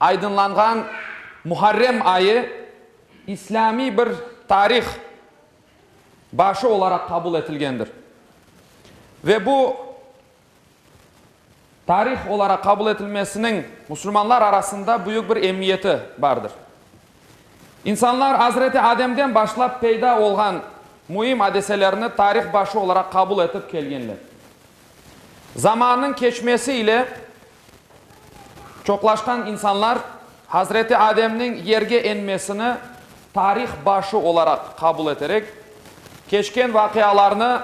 Aydınlanğan Muharrem ayı islâmiy bir tarih başı olaraq qabul etilgendir. Ve bu tarih olaraq qabul etilmesiniñ musulmanlar arasında büyük bir emiyeti bardır. İnsanlar Azreti Ademden başlap peyda olğan müim adeselerni tarih başı olaraq qabul etip kelgenler. Zamannıñ keçmesi ile, Çoqlaşqan insanlar Hazreti Ademniñ yerge enmesini tarih başı olaraq qabul eterek, keçken vaqialarnı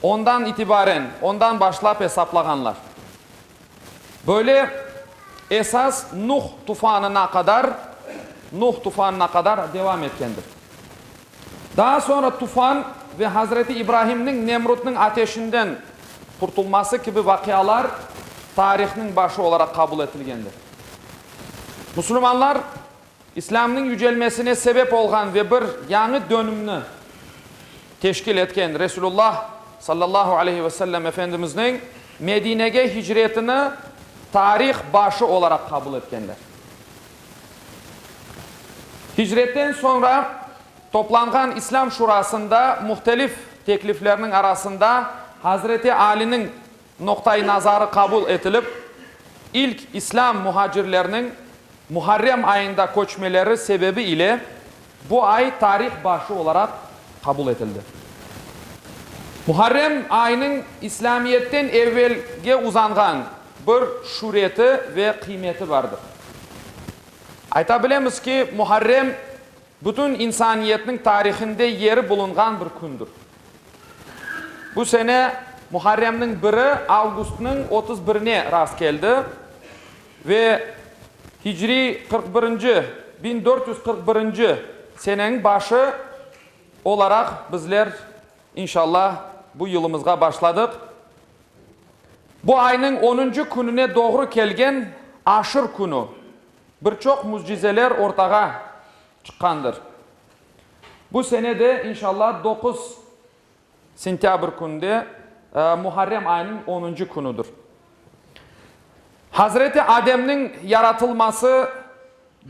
ondan itibaren, ondan başlap esaplağanlar. Böyle esas Nuh tufanına qadar, Nuh tufanına qadar devam etkendir. Daa soñra tufan ve Hazreti İbrahimniñ Nemrudnıñ ateşinden qurtulması kibi vaqialar tarihniñ başı olaraq qabul etilgendir. Musulmanlar İslâmnıñ yücelmesine sebep olğan ve bir yañı dönümni teşkil etken Resulullah sallallahu aleyhi ve sellem Efendimizniñ Medinege hicretini tarih başı olaraq qabul etkenler. Hicretten soñra toplanğan İslâm Şurasında muhtelif tekliflerniñ arasında Hazreti Aliniñ noqta-i nazarı qabul etilip, ilk İslâm muhacirlerniñ Muharrem ayında köçmeleri sebebi ile bu ay tarih başı olaraq qabul etildi. Muharrem aynıñ İslâmiyetten evelge uzanğan Bir şüreti ve qıymeti bardır. Ayta bilemiz ki, Muharrem, bütün insaniyetniñ tarihinde yeri bulunğan bir kündür. Bu sene Muharremniñ biri avgustnıñ otuz birine rast keldi ve hicri qırq birinci, biñ dört yüz qırq birinci, seneniñ başı olaraq bizler, inşallah, bu yılımızğa başladıq. Bu aynıñ onuncu kününe doğru kelgen Aşır künü bir çoq müscizeler ortağa çıqqandır. Bu sene de, inşalla, doquz sentâbr kününde, Muharrem ayınıñ onuncu künüdir. Hazreti Ademniñ yaratılması,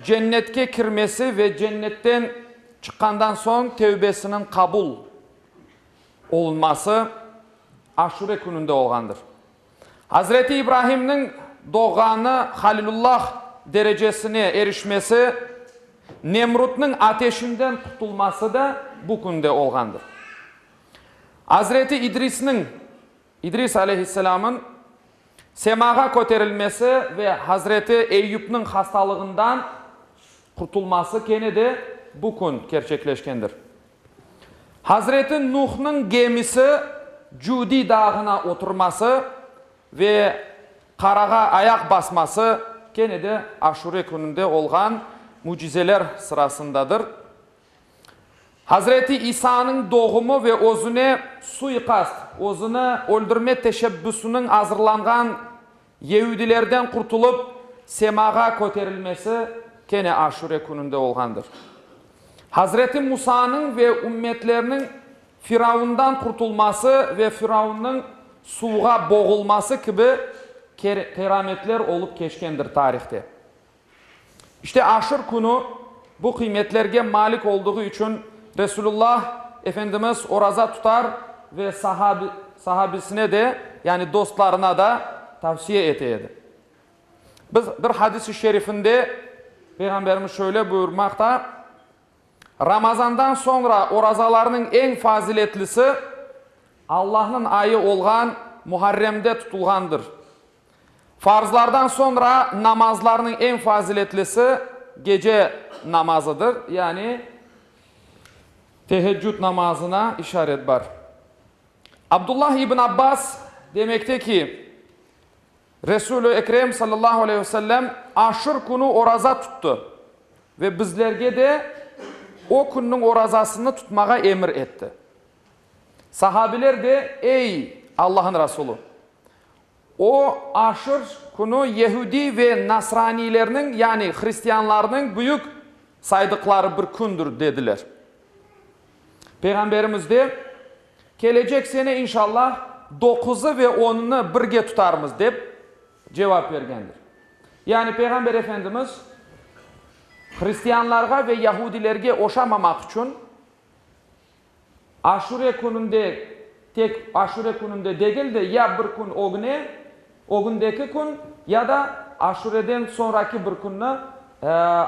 Cennetke kirmesi ve Cennetten çıqqandan soñ tevbesiniñ qabul. Olunması Aşure kününde olğandır. Hazreti İbrahimniñ doğğanı Halilullah derecesine erişmesi, Nemrutnıñ ateşinden qutulması da bu künde olğandır. Hazreti İdrisniñ İdris aleyhisselamın semağa köterilmesi ve hazreti Eyyupnıñ hastalığından qurtulması kene de bu kün kerçekleşkendir. Hazreti Nuhnıñ gemisi Cudi dağına oturması ve qarağa ayaq basması kene de Aşure kününde olğan mücizeler sırasındadır. Hazreti İsa'nıñ doğumı ve özüne suiqast, özüni öldürme teşebbüsiniñ azırlanğan yeudilerden qurtulıp, semağa köterilmesi kene Aşure kününde olğandır. Hazreti Musanıñ ve ümmetlerniñ Firavundan qurtulması ve Firavunıñ suvğa boğulması kibi kerametler olıp keçkendir tarihte. İşte, aşır künü bu qıymetlerge malik olduğu içün Resulullah Efendimiz oraza tutar ve sahabisine de, yani dostlarına da tavsiye ete edi. Biz bir hadis-i şerifinde Peyğamberimiz şöyle buyurmaqta, Ramazandan soñra orazalarnıñ eñ faziletlisi Allahnıñ ayı olğan Muharremde tutulğandır. Farzlardan soñra namazlarnıñ eñ faziletlisi gece namazıdır, yani Teheccüd namazına işaret bar. Abdullah ibn Abbas demekte ki, Resul-i Ekrem sallallahu aleyh ve sellem Aşır künü oraza tuttı ve bizlerge de o künniñ orazasını tutmağa emir etti. Sahabiler de, Ey, Allañıñ Resulü! O, aşır künü yehudiy ve nasraniylerniñ, yani hristianlarnıñ büyük saydıqları bir kündür, dediler. Peyğamberimiz de, Kelecek sene, inşallah, doquzı ve onını birge tutarmız, dep cevap bergendir. Yani Peyğamber Efendimiz hristianlarğa ve yahudilerge oşamamaq içün, Aşure kününde, tek Aşure kününde degil de, ya bir kün ögüne, ögündeki kün, ya da Aşureden soñraki bir künni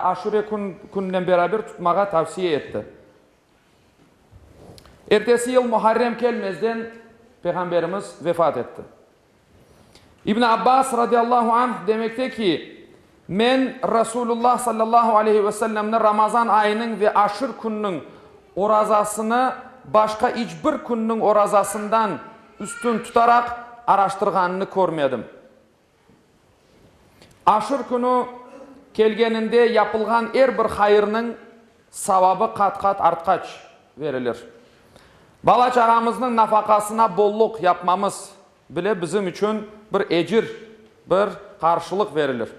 Aşure kününen beraber tutmağa tavsiye etti. Ertesi yıl Muharrem kelmezden Peyğamberimiz vefat etti. İbn Abbas, radiyallahu anh, demekte ki, Men Rasulullah, sallallahu aleyhi ve sellemni Ramazan ayınıñ ve Aşır kününiñ orazasını başqa iç bir künniñ orazasından üstün tutaraq araştırğanını körmedim. Aşur künü kelgeninde yapılğan er bir hayırnıñ savabı qat-qat artqaç verilir. Bala-çağamıznıñ nafaqasına bolluq yapmamız bile bizim içün bir ecir, bir qarşılıq verilir.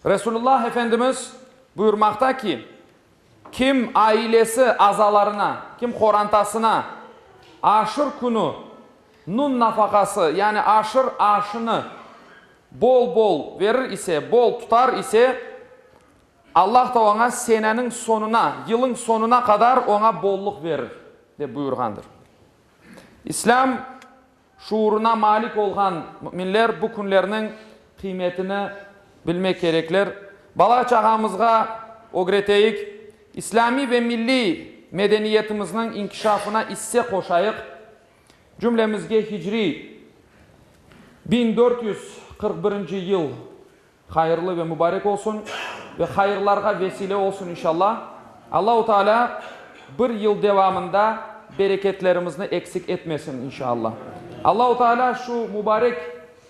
Resulullah Efendimiz buyurmaqta ki. Kim ailesi azalarına, kim qorantasına aşır künü nun nafaqası, yani aşır aşını bol-bol verir ise, bol tutar ise, Allah da oña seneniñ soñuna, yılıñ soñuna qadar oña bolluq verir, dep buyurğandır. İslâm Şuurına malik olğan müminler bu künlerniñ qıymetini bilmek kerekler. Bala-çağamızğa ögreteyik, islâmiy ve milliy medeniyetimizniñ inkişafına isse qoşayıq. Cümlemizge hicriy biñ dört yüz qırq birinci yıl. Hayırlı ve mübarek olsun ve hayırlarğa vesile olsun inşalla. Allahu Teala bir yıl devamında bereketlerimizni eksik etmesin inşalla. Allahu Teala şu mübarek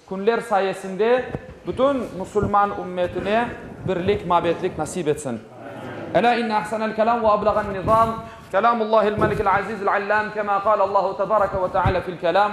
künler sayesinde bütün musulman ümmetine birlik, mabetlik nasip etsin. Elâ inne ahsenel kelâm ve ablâğen nizâm kelâmullâhil melikil azîzil allâm kemâ qâle Allahu tebareke ve teâlâ fil kelâm.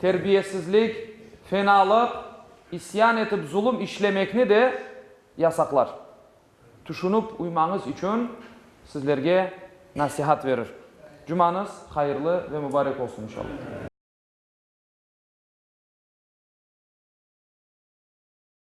Terbiyesizlik, fenalıq, isyan etip zulum işlemekni de yasaqlar. Tüşünip uymañız içün sizlerge nasihat verir. Cumañız hayırlı ve mübarek olsun inşallah.